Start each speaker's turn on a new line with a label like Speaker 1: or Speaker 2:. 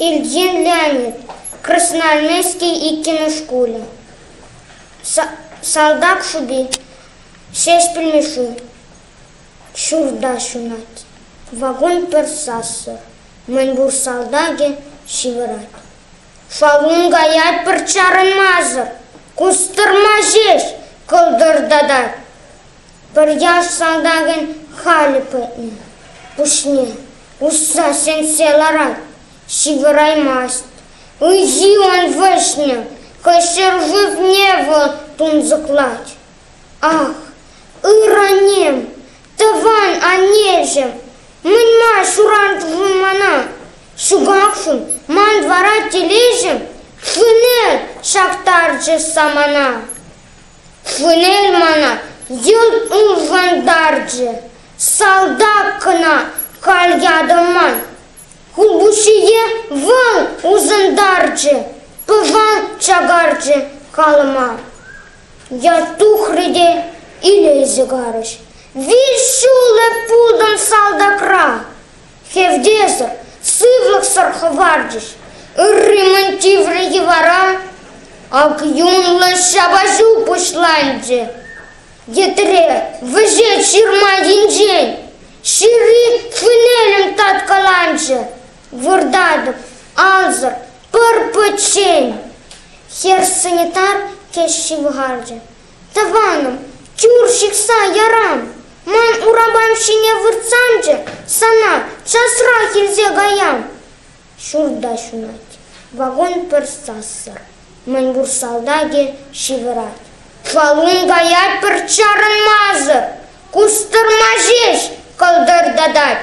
Speaker 1: Ильин Леонид, Красноармейски иккӗмӗш шкулӗ, салтак шӑпи, Ҫеҫпӗл Мишши, ҫурта ҫунать, вакун пӗр сассӑр, мӗнпур салтакӗ ҫывӑрать. Шалун каять пӗр чарӑнмасӑр, кустӑрма ҫеҫ кӑлтӑртатать. Пӗр яш салтакӗн халь пуҫне усса чӗнсе ларать, ҫывӑраймасть. Ун-сиун вӗҫне хӑй ҫӗр шывне вӑл тунсӑхлать. Ах, ыр-аннем, тӑван аннеҫӗм, мӗн-ма шуратӑн мана? Ҫукахшӑн ман вара телеҫӗм шыне ҫаптарчӗ самана. Фланель мана ют ывӑнтарчӗ, салтак кӑна халь ятӑман. Хулпуҫҫийӗ вӑл усӑнтарчӗ, пӑван чакарчӗ халӑма. Ят тухрӗ те илесе карӗҫ. Вил ҫулӗ пултӑм салтакра. Хевтесӗр, сывлӑхсӑр хӑварчӗҫ ырри мӗн тиврӗ йӑвара, ак юнлӑ ҫапаҫу пуҫланчӗ. Йӗтре вӗҫет ҫырма енчен, ҫырри хвинелӗм таткаланчӗ. Выртатӑп ансӑр пӗр пӗччен. Хӗр санитар теҫҫи вӑханчӗ. Тӑванӑм, тимур ҫыхса ярам. Ман урапам ҫине выртсамчӗ, сана часрах илсе каям. Ҫурта ҫунать, вагон пӗр сассӑр. Мӗнпур салтакӗ ҫывӑрать. Валун кая пӗр чарӑнмасӑр. Кустӑрма ҫеҫ кӑлтӑртатать.